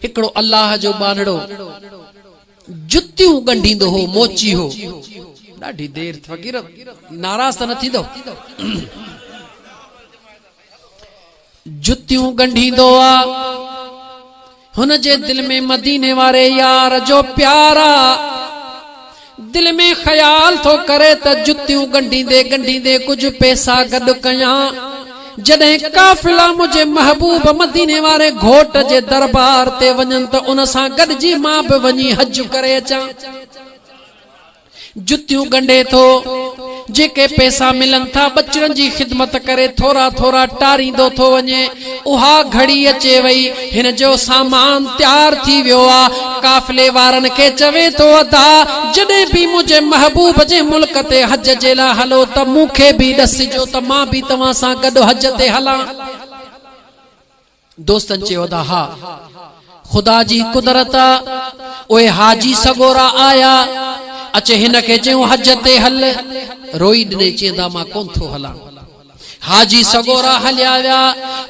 هڪڙو الله جو ٻانهڙو جتيون ڳنڍيندو هو، موچي هو. ڏاڍي دير ٿي فقير ناراض ته نه ٿيندؤ. جتيون ڳنڍيندو آ. هن جي دل ۾ مديني واري يار جو پيار آ. دل ۾ خيال ٿو ڪري ته جتيون ڳنڍيندي ڳنڍيندي ڪجهه پئسا گڏ ڪيان. جڏهن قافلا منهنجي محبوب مديني واري گهوٽ جي دربار تي وڃن ته ان سان گڏجي مان به وڃي حج ڪري اچان. جتيون ڳنڍي ٿو، جيڪي پئسا ملن ٿا ٻچڙن جي خدمت ڪري ٿورا ٿورا ٽاريندو ٿو وڃي. اها گهڙي اچي وئي، هن جو سامان تيار ٿي ويو آ. قافلي وارن کي چوي ٿو ادا! جڏهن به منهنجي محبوب جي ملڪ تي حج جي لاء هلو ته مون کي به ڏسجو ته مان به توهان سان گڏ حج تي هلان. دوستن چيو ادا ها! خدا جي قدرت آ، اهي حاجي سڳورا آيا. اچ هن کي چيون حج تي هل. روئي ڏني چيندا مان ڪونه ٿو هلان. حاجي سڳورا هليا ويا.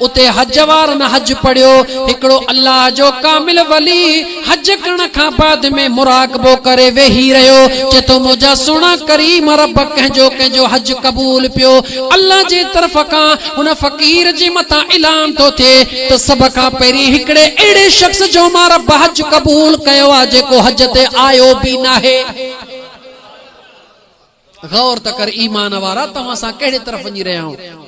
اتي حج وارن حج پڙهيو. هڪڙو الله جو ڪامل ولي حج ڪرڻ کان بعد ۾ مراقبو ڪري ويهي رهيو. چئي ٿو منهنجا سهڻا ڪريم رب ڪنهن جو ڪنهن جو حج قبول پيو. الله جي طرف کان هن فقير جي مٿان اعلان ٿو ٿئي ته سڀ کان پهرين هڪڙي اهڙي شخص جو مان رب حج قبول ڪيو آهي جيڪو حج تي آيو به ناهي. غور ته ڪر ايمان وارا ته اسان ڪهڙي طرف وڃي رهيا آهيون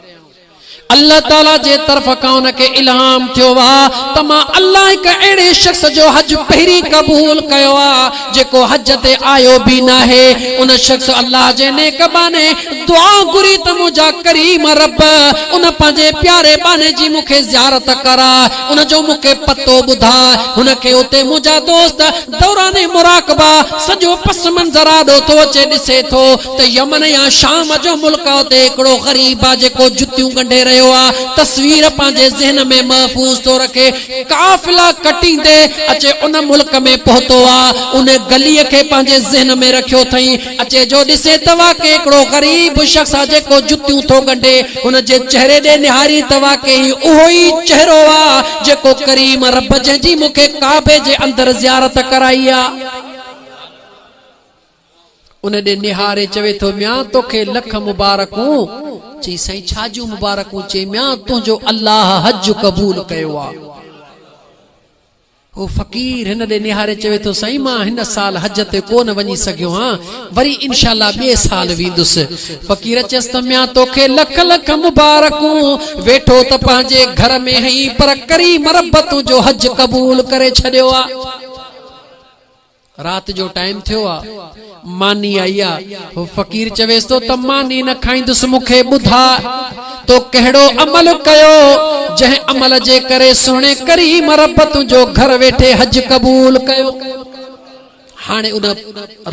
الله تعالي جي طرف کان ان کي الهام ٿيو آ ته مان الله هڪ اهڙي شخص جو حج پهرين قبول ڪيو آ جيڪو حج تي آيو به ناهي ان شخص الله جي نيڪ ٻانهي دعا گهري ته منهنجا ڪريم رب ان پنهنجي پياري ٻانهي جي مون کي زيارت ڪراء ان جو مون کي پتو ٻڌاء هن کي اتي منهنجا دوست دوران مراقبه سڄو پس منظر آڏو ٿو اچي ڏسي ٿو ته يمن يا شام جو ملڪ آ اتي هڪڙو غريب آ جيڪو جتيون ڳنڍي رهيو آ تصوير پنهنجي ذهن ۾ محفوظ ٿو رکي قافلا ڪٽيندي اچي ان ملڪ ۾ پهتو آ ان گلي کي پنهنجي ذهن ۾ رکيو ٿئين اچي جو ڏسي ته واقعي هڪڙو غريب شخص آ جيڪو جتيون ٿو ڳنڍي. هن جي چهري ڏي نهاري ته واقعي هي اهو ئي چهرو آ جيڪو ڪريم رب جنهن جي مون کي ڪعبي جي اندر زيارت ڪرائي آ. ان ڏي نهاري چوي ٿو ميان توکي لک مبارڪون. چئي سائين ڇا جون مبارڪون؟ چئي ميان تنهنجو الله حج قبول ڪيو آ. هو فقير هن ڏي نهاري چوي ٿو سائين مان هن سال حج تي ڪو نه وڃي سگهيو هان وري انشاء الله ٻئي سال ويندس فقير چيس ته ميان توکي لک لک مبارڪون ويٺو ته پنهنجي گهر ۾ هئين پر ڪري مربتون جو حج قبول ڪري ڇڏيو آ. رات جو ٽائيم ٿيو آ، ماني آئي آ. هو فقير چويس ٿو ته ماني نه کائيندس، مون کي ٻڌاء تو ڪهڙو عمل ڪيو، جنهن عمل جي ڪري سهڻي ڪريم رب تنهنجو گهر ويٺي حج قبول ڪيو. هاڻي ان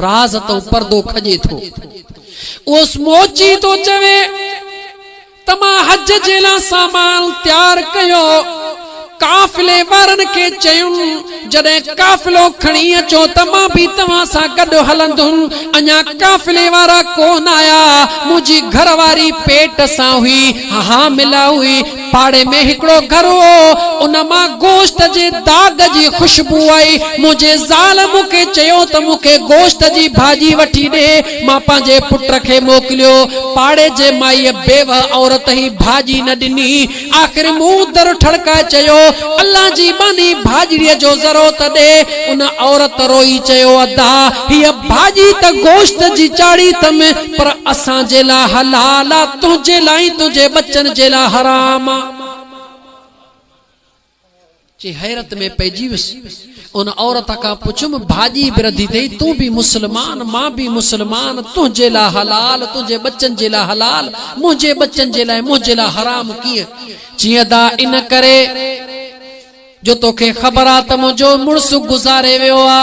راز تئون پردو کڄي ٿو. اهو سموچي ٿو چوي. ته مان حج جي لاء سامان تيار ڪيو. قافلي وارن کي چيم، جڏهن قافلو کڻي اچو ته مان به توهان سان گڏ هلندم. اڃا قافلي وارا ڪو نه آيا. منهنجي گهر واري پيٽ سان هئي، حامله هئي. پاڙي ۾ هڪڙو گهر هو، ان مان گوشت جي داغ جي خوشبو آئي. منهنجي زال مون کي چيو ته مون کي گوشت جي ڀاڄي وٺي ڏي. مان پنهنجي پٽ کي موڪليو. پاڙي جي مائيء بيوهه عورت هي ڀاڄي نه ڏني. آخر مون در ٺڙڪائي چيو، الله جي ٻانهي ڀاڄڙيء جو ذرو ته ڏي. ان عورت روئي چيو، ادا، هيء ڀاڄي ته گوشت جي چاڙهي اٿم، پر اسان جي لاء حلال آ، تنهنجي لاء ۽ تنهنجي ٻچن جي لاء حرام آ. چي حيرت ۾ پئجي ويس. ان عورت کان پڇيم، ڀاڄي به رڌي اٿئي، تون به مسلمان، مان به مسلمان، تنهنجي لاء حلال، تنهنجي ٻچن جي لاء حلال، منهنجي ٻچن جي لاء، منهنجي لاء حرام ڪيئن؟ چي ادا ان ڪري جو توکي خبر آ ته منهنجو مڙس گذاري ويو آ.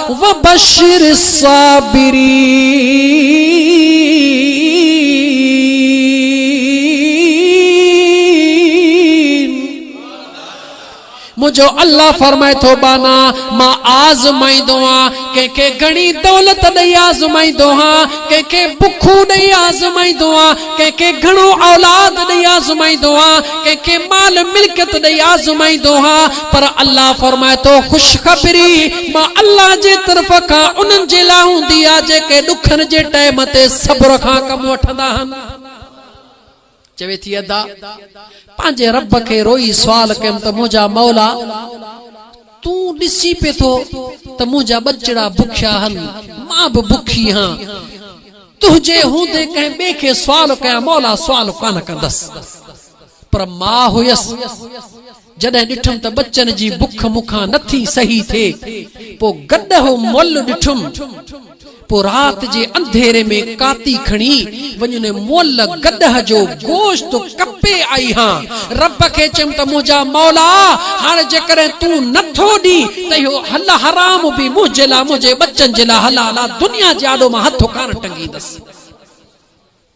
وبشر الصابرين منهنجو الله فرمائي ٿو ٻانها مان آزمائيندو آهيان ڪنهن کي گهڻي دولت ڏئي آزمائيندو آهيان ڪنهن کي بکون ڏئي آزمائيندو آهيان ڪنهن کي گهڻو اولاد ڏئي آزمائيندو آهيان ڪنهن کي مال ملڪيت ڏئي آزمائيندو آهيان پر الله فرمائي ٿو خوشخبري مان الله جي طرف کان انهن جي لاء هوندي آهي جيڪي ڏکن جي ٽئم تي صبر کان ڪم وٺندا آهن. چوي ٿي ادا پنهنجي رب کي روئي سوال ڪيم ته منهنجا مولا تون ڏسي پئي ٿو ته منهنجا ٻچڙا بکيا آهن مان به بکي هان تنهنجي هوندي ڪنهن ٻئي کي سوال ڪيان مولا سوال ڪانه ڪندس پر مان هيس جڏهن ڏٺم ته ٻچن جي بک مون کان نه ٿي سهي ٿئي، پوء گڏهو مئل ڏٺم. پوء رات جي انڌيري ۾ ڪاتي کڻي وڃي ان مئل گڏهه جو گوشت ڪپي آئي هان. رب کي چيم ته منهنجا مولا! هاڻ جيڪڏهن تون نه ٿو ڏين ته اهو حل حرام به منهنجي لاء منهنجي ٻچن جي لاء حلال آ، دنيا جي آڏو مان هٿ ڪانه ٽنگيندس.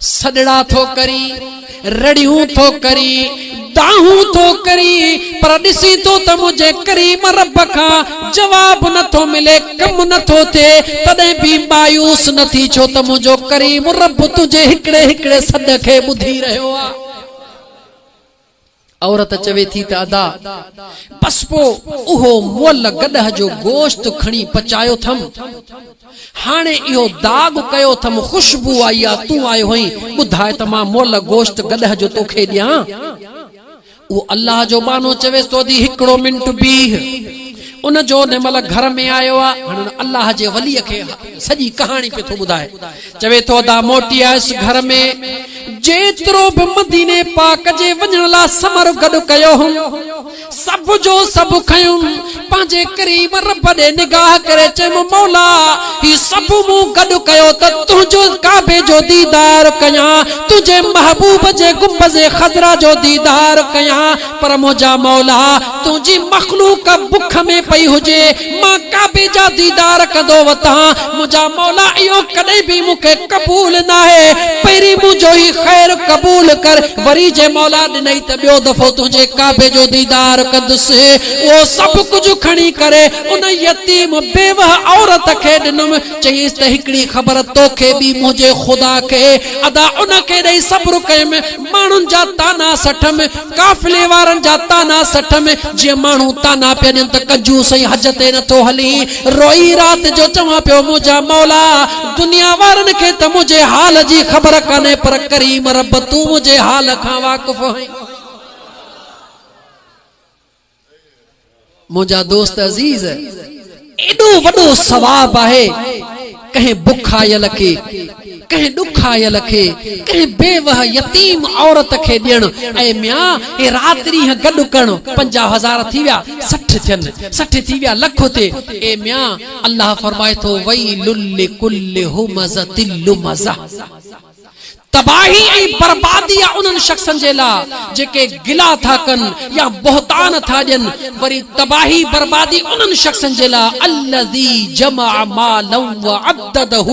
سڏڙا ٿو ڪري، رڙيون ٿو ڪري، دانهون ٿو ڪري، پر ڏسين ٿو ته منهنجي ڪريم رب کان جواب نه ٿو ملي، ڪم نه ٿو ٿئي، تڏهن به مايوس نه ٿي، ڇو ته منهنجو ڪريم رب تنهنجي هڪڙي هڪڙي سڏ کي ٻڌي رهيو آهي. عورت چوي ٿي ته ادا! بس پوء اهو مئل گڏهه جو گوشت کڻي پچايو ٿم. هاڻي اهو داغ ڪيو ٿم، خوشبو آئي آ، تون آيو هئين، ٻڌاء ته مان مئل گوشت گڏهه جو توکي ڏيان؟ اهو الله جو ٻانهو چويس ته ادي هڪڙو منٽ بيهه. ان جو ان مئل گهر ۾ آيو آ، هاڻي ان الله جي وليء کي سڄي ڪهاڻي پيو ٿو ٻڌائي. چوي ٿو ادا موٽي آيس گهر ۾، جيترو به مديني پاڪ جي وڃڻ لا ثمر گڏ ڪيو هوم، سڀ جو سڀ کنيم، پنهنجي ڪريم رب ڏي نگاهه ڪري چيم مولا هي سڀ مون گڏ ڪيو ته تنهنجو ڪعبي جو ديدار ڪيان، تنهنجي محبوب جي گنبذ خضرا جو ديدار ڪيان، پر منهنجا مولا! تنهنجي مخلوق بک ۾ پئي هجي، مان ڪعبي جا ديدار ڪندو وتان، منهنجا مولا! اهو ڪڏهن به مون کي قبول ناهي، پهرين منهنجو هي خير قبول ڪر، وري جي مولا ڏنئي ته ٻيو دفعو تنهنجي ڪعبي جو ديدار ڪندس. اهو سڀ ڪجهه کڻي ڪري ان يتيم بيوهه عورت کي ڏنم، چيس ته هڪڙي خبر توکي ٻي منهنجي خدا کي، ادا ان کي ڏئي صبر ڪيم، ماڻهن جا طعنا سٺم، قافلي وارن جا طعنا سٺم، جيئن ماڻهو طعنا پيا ڏين ته ڪنجوس ۽ حج تي نه ٿو هلين. روئي رات جو چوان پيو منهنجا مولا! دنيا وارن کي ته منهنجي حال جي خبر ڪانهي پر ڪريم رب تون منهنجي حال کان واقف آهين. منهنجا دوست عزيز ايڏو وڏو ثواب آهي ڪنهن بک آيل کي ڪنهن ڏک آيل کي ڪنهن بيوه يتيم عورت کي ڏيڻ اي ميان هي رات ڏينهن گڏ ڪرڻ پنجاهه هزار ٿي ويا سٺ ٿين سٺ ٿي ويا لک ٿئي اي ميان الله فرمائي ٿو ويل لڪل همزة لمزة تباهي ۽ بربادي آهي انهن شخصن جي لاء جيڪي گلا ٿا ڪن يا بهتان ٿا ڏين، وري تباهي بربادي انهن شخصن جي لاء الذي جمع مالا وعدده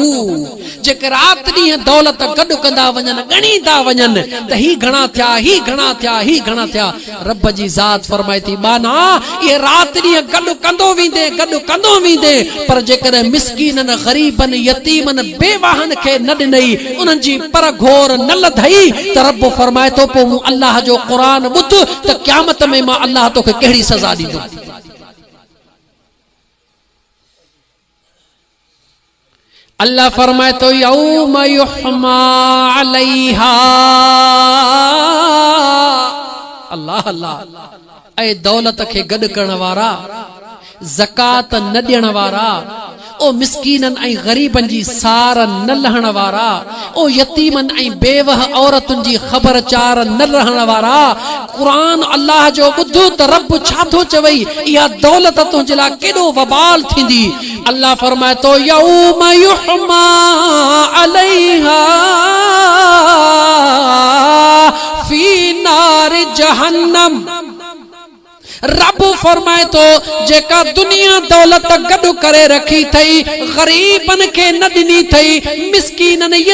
جيڪي رات ڏينهن دولت گڏ ڪندا وڃن ڳڻيندا وڃن ته هي گهڻا ٿيا هي گهڻا ٿيا هي گهڻا ٿيا رب جي ذات فرمائي ٿي، ٻانها، اهي رات ڏينهن گڏ ڪندو ويندين، گڏ ڪندو ويندين، پر جيڪڏهن مسڪينن، غريبن، يتيمن، بيواهن کي نه ڏنئي، انهن جي پر گهور نه لڌئي ته رب فرمائي ٿو، پوء مون الله جو قرآن ٻڌ ته قيامت ۾ مان الله توکي ڪهڙي سزا ڏيندم. الله فرمائي ٿو يوم يحمى عليها الله الله اي دولت کي گڏ ڪرڻ وارا زڪات نه ڏيڻ وارا او مسڪينن ۽ غريبن جي سار نه لهڻ وارا او يتيمن ۽ بيوه عورتن جي خبر چار نه رهڻ وارا! قرآن الله جو ٻڌ ته رب ڇا ٿو چوي، اها دولت تنهنجي لاء ڪيڏو وبال ٿيندي. الله فرمائي ٿو، يوم يحميٰ عليها في نار جهنم رب فرمائي ٿو، جيڪا دنيا دولت گڏ ڪري رکي ٿئي، غريبن کي نه ڏني ٿئي، مسڪينن،